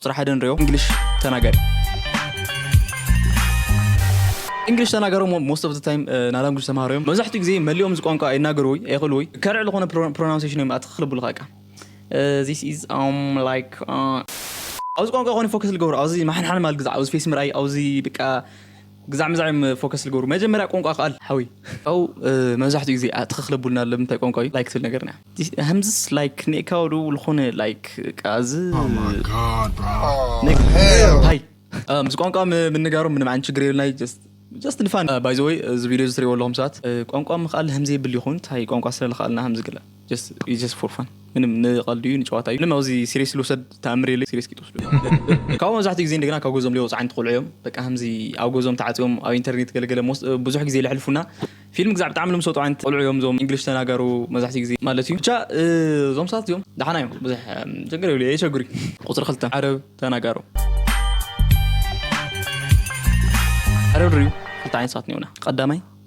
ቁፅሪ ሓደ ንሪኦ ኢንግሊሽ ተናጋሪ። ኢንግሊሽ ተናጋሪ እሞ ሞስት ኦፍ ዘ ታይም ናይ ላንጉጅ ተምሃሮ እዮም መብዛሕትኡ ግዜ መሊኦም እዚ ቋንቋ ኣይናገሩ ወይ ኣይኽእሉ ወይ ከርዕ ዝኾነ ፕሮናውንሴሽን እዮም ኣትኽ ክልብሉኻ እቃ ዚስ ኢዝ ላይክ ኣብዚ ቋንቋ ኮነ ፎከስ ልገብሮ ኣብዚ ማሓንሓን ማል ግዛዕ ኣብዚ ፌስ ምርኣይ ኣብዚ በቃ ግዛዕ ምዛዕ እዮም ፎከስ ልገብሩ መጀመርያ ቆንቋ ክኣል ሓወይ። ሐው መብዛሕትኡ ግዜ ኣእትኽ ክለቡልና ብ ምንታይ ቋንቋ እዩ like ትብል ነገርና። ሀምዝስ like ኔእካዎ ዶ ልኾነ like እቃ እዚ ነገር ታይ ምስ ቋንቋ ምንጋሮም ምንም ዓይነት ችግር የብልናይ just just ንፋን። By the way እዚ ቪድዮ እዚ ትሪእዎ ኣለኹም ሰባት ቋንቋ ምኽኣል ሀምዘየብል ይኾን ታይ ቋንቋ ስለ ልኽኣልና ሀምዚ ግለ። ጀስት ፎር ፋን ምንም ንቀልዲ እዩ ንጨዋታ እዩ ምንም ኣብዚ ሲሪየስ ልውሰድ ተኣምር የለ ሲሪየስ ክትወስዱ ካብኡ መብዛሕትኡ ግዜ እንደገና ካብ ገዞም ሊወፁ ዓይነት ቆልዑ እዮም በቃ ከምዚ ኣብ ገዞም ተዓፅዮም ኣብ ኢንተርኔት ገለገለ ብዙሕ ግዜ ለሕልፉና ፊልም ግዛዕ ብጣዕሚ ልምሰጡ ዓይነት ቆልዑ እዮም እዞም እንግሊሽ ተናጋሩ መብዛሕትኡ ግዜ ማለት እዩ ብቻ እዞም ሰባት እዚኦም ደሓና እዮም ብዙሕ ችግር የብሉ የቸግሩ ቁፅሪ ክልተ ዓረብ ተናጋሩ ዓረብ ርዩ ክልተ ዓይነት ሰባት እኒኦና ቀዳማይ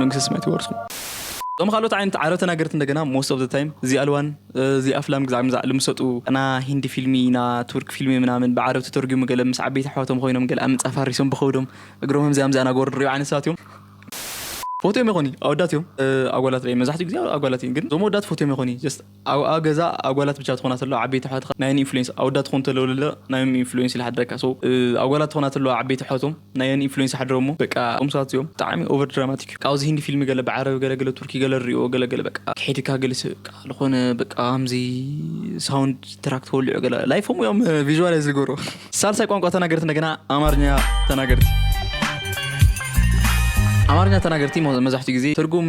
መንግስተ ሰማያት ይወርስኩም። እዞም ካልኦት ዓይነት ዓረብ ተናገርቲ እንደገና most of the time እዚ ኣልዋን እዚ ኣፍላም ግዛዕ ምዛዕ ልምሰጡ ና ሂንዲ ፊልሚ ና ቱርክ ፊልሚ ምናምን ብዓረብ ተተርጉሙ ገለ ምስ ዓበይቲ ኣሕዋቶም ኾይኖም ገለ ኣብ ምንጻፍ ሃሪሶም ብኸብዶም እግሮም ኣምዚኣ ኣምዚኣ ናገበሩ ንሪኦም ዓይነት ሰባት እዮም። ፎትዮም የኾኒ ኣወዳት እዮም ኣጓላት ሪኤ መብዛሕቲኡ ግዜ ኣጓላት እየን ግን እዞም ኣወዳት ፎትዮም የኾኒ just። ኣብ ኣብ ገዛ ኣጓላት ብቻ ትኾና ተለዋ ዓበይቲ ኣሕዋትኻ ናየን ኢንፍሉዌንስ ኣወዳት ትኾኑ ተለዉ ለለ ናዮም ኢንፍሉዌንስ ይልሓድረካ so ኣጓላት ትኾና ተለዋ ዓበይቲ ኣሕዋቶም ናየን ኢንፍሉዌንስ ይሓድሮሞ በቃ እዞም ሰባት እዚኦም ብጣዕሚ ኦቨር ድራማቲክ እዩ ካብዚ ሂንዲ ፊልሚ ገለ ብዓረብ ገለ ገለ ቱርኪ ገለ ንሪኦ ገለ ገለ በቃ ክሒድካ ገለ ሰብ በቃ ልኾነ በቃ ከምዚ ሳውንድ ትራክ ተወሊዑ ገለ ላይፎም እዮም ቪዥዋላይዝ ዝገብሩ ሳልሳይ ቋንቋ ተናገርቲ እንደገና ኣማርኛ ተናገርቲ ኣማርኛ ተናገርቲ መብዛሕትኡ ግዜ ትርጉም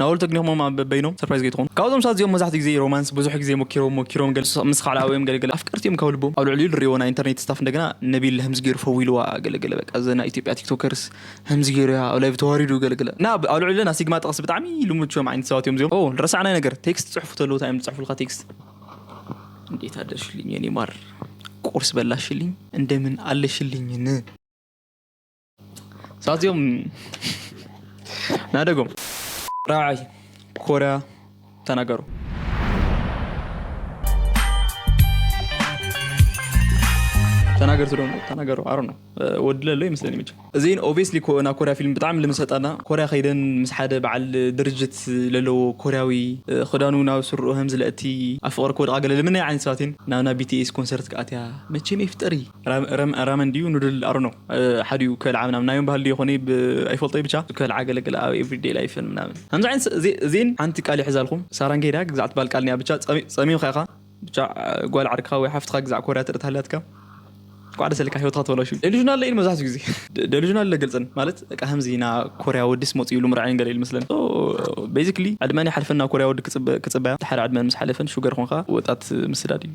ናኦል ተግኒሆሞም ኣብ በበይኖም ሰርፕራይዝ ከይትኾኑ ካብዞም ሰባት እዚኦም መብዛሕትኡ ግዜ ሮማንስ ብዙሕ ግዜ ሞኪሮም ሞኪሮም ገለ ምስ ኻልኣ ወይም ገለ ገለ ኣፍቀርቲ እዮም ካብ ልቦም ኣብ ልዕሊኡ ልሪእዎ ናይ ኢንተርኔት ስታፍ እንደገና ነቢል ሀምዚ ገይሩ ፈዊልዋ ገለ ገለ በቃ እዚ ናይ ኢትዮጵያ ቲክቶከርስ ሀምዚ ገይሩ እያ ኣብ ላይቭ ተዋሪዱ ገለ ገለ እና ኣብ ልዕሊኡ ለና ሲግማ ጠቅሲ ብጣዕሚ ልሙድ ችዮም ዓይነት ሰባት እዮም እዚኦም ኦ ልረሳዕናይ ነገር ቴክስት ትጽሕፉ ተለዉ እንታይ እዮም ዝጽሕፉልካ ቴክስት እንዴት ኣደርሽልኝ የኔ ማር ቁርስ በላሽልኝ እንደምን ኣለሽልኝ ን። ሳዚኦም ናደጎም ራዕይ ኮርያ ተናገሩ ተናገርቱ ዶ ተናገሩ ኣሮ ነው ወድለ ኣሎ ይመስለኒ መቸ እዚን ኦብስሊ ናብ ኮርያ ፊልም ብጣዕሚ ልምሰጣና ኮርያ ከይደን ምስ ሓደ በዓል ድርጅት ለለዎ ኮርያዊ ክዳኑ ናብ ስርኡ ከምዚ ለእቲ ኣብ ፍቕሪ ክወድቃ ገለ ልምነይ ዓይነት ሰባትን ናብና ቢቲኤስ ኮንሰርት ክኣትያ መቸም የፍጠሪ ራመን ድዩ ኑድል ኣሮኖ ሓዲኡ ከልዓ ምናምን ናዮም ባህል ድዮ ኮነ ኣይፈልጦይ ብቻ ከልዓ ገለገለ ኣብ ኤቭሪዴይ ላይፍን ምናምን ከምዚ ዓይነት እዚን ሓንቲ ቃል ይሕዛልኩም ሳራን ከይዳ ግዛዕ ትባል ቃል ኒያ ብቻ ፀሚምካ ኢኻ ብቻ ጓል ዓርክኻ ወይ ሓፍትኻ ግዛዕ ኮርያ ትርኢ ተሃልያትካ ቋዕ ደሰልካ ሂወትካ ተበላሹ ደሉዥናል ለኢን መብዛሕትኡ ግዜ ደሉዥናል ለግልፅን ማለት ከምዚ ኢና ኮርያ ወዲስ መፅ ኢሉ ምርዓይን ገለ ኢሉ መስለን ቤዚክሊ ዕድመን ይሓልፈና ኮርያ ወዲ ክፅበያ ሓደ ዕድመን ምስ ሓለፈን ሹገር ኮንካ ወጣት ምስዳድ እዩ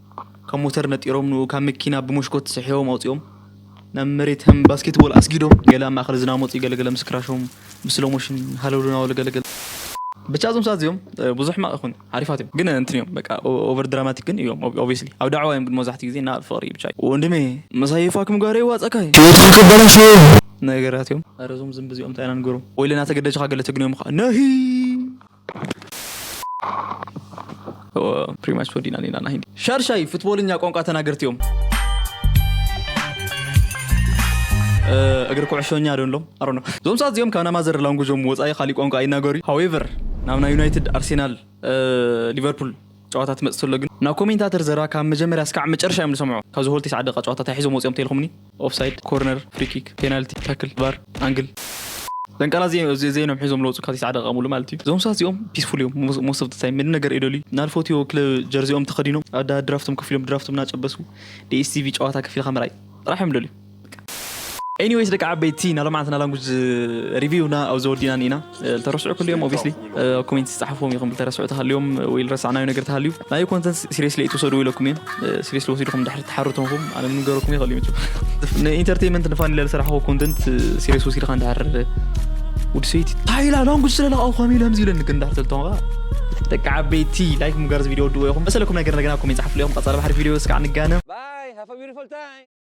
ካብ ሞተር ነጢሮም ንኡ ካብ መኪና ብሞሽኮት ስሒቦም ኣውጺኦም ናብ መሬት ከም ባስኬትቦል ኣስጊዶም ገለ ኣብ ማእከል ዝናብ መጹ ገለ ገለ ምስ ክራሾም ብስሎሞሽን ሃለውለው ናበሉ ገለ ገለ ብቻ እዞም ሰባት እዚኦም ብዙሕ ሕማቅ ይኹን ሓሪፋት እዮም ግን እንትን እዮም በቃ ኦቨር ድራማቲክ ግን እዮም ኦብቪስሊ ኣብ ዳዕዋ እዮም ግን መብዛሕትኡ ግዜ እና ፍቅሪ እዩ ብቻ ወንድሜ ምሳይ ፋክም ጋር ይዋጻካ እዩ ህይወትካ ከበላሽው ነገራት እዮም። ኣረ እዞም ዝንቢ እዚኦም እንታይ ኢና ንገሮም ወይለ ናተገደጅኻ ገለ ተግንዮም እዃ ነሂ። ፕሪማች ፈዲና ኒና ናይ ሻርሻይ ፍትቦልኛ ቋንቋ ተናገርቲ እዮም እግሪ ኩዕሾኛ ዶ ንሎም ኣሮ ነው ዞም ሰዓት እዚኦም ካብ ናይ ማዘር ላንጉጆም ወፃኢ ካሊእ ቋንቋ ኣይናገሩ ሃዌቨር ናብ ናይ ዩናይትድ ኣርሴናል ሊቨርፑል ጨዋታ ትመጽእ ተሎ ግን ናብ ኮሜንታተር ዘረባ ካብ መጀመርያ ስካዕ መጨረሻ እዮም ዝሰምዑ ካብዚ ሆል ቴስዓ ደቂቃ ጨዋታ ታይ ሒዞም ወጺኦም ተይልኩምኒ ኦፍሳይድ ኮርነር ፍሪኪክ ፔናልቲ ታክል ቫር ኣንግል ደንቀራ ዘይኖም ሒዞም ለውጹ ካብ ቴስዓ ደቂቃ ሙሉእ ማለት እዩ እዞም ሰባት እዚኦም ፒስፉል እዮም ሞስት ኦፍ ዘ ታይም ምንም ነገር እይደልዩ ናልፎትዮ ክለብ ጀርዚኦም ተከዲኖም ኣዳ ድራፍቶም ከፊሎም ድራፍቶም ናጨበሱ ዲኤስቲቪ ጨዋታ ከፊልካ ምርኣይ ጥራሕ እዮም ዝደልዩ። ኤኒወይስ ደቂ ዓበይቲ ናይ ሎምዓንቲ ናይ ላንጉጅ ሪቪውና ኣብዚ ወዲና ኢና ተረስዑ ክልዮም ኦብስሊ ኮሜንት ዝፃሓፍዎም ኢኹም ተረስዑ ተሃልዮም ወይ ረሳዕናዮ ነገር ተሃልዩ ናይ ኮንተንት ሲሪየስሊ ኣይትውሰዱ ኢለኩም እየ ሲሪየስሊ ወሲድኩም ድሕሪ ተሓርቶምኩም ኣነ ምንገረኩም ይኽእል እዩ ንኢንተርቴንመንት ንፋን ኢለ ዝሰራሕዎ ኮንተንት ሲሪየስ ወሲድካ እንዳሓር ወዲ ሰይቲ እንታይ ኢላ ላንጉጅ ስለለቃውኳም ኢለ ከምዚ ኢለኒ ግን እንዳሕተልቶም ከዓ ደቂ ዓበይቲ ላይክ ምጋር ቪድዮ ወድዎ ኢኹም መሰለኩም ነገር እንደገና ኮሜንት ፀሓፍሉ ኢኹም ቀፃሊ ባሕሪ ቪድዮ እስካዕ ንጋነ Bye. Have a beautiful time.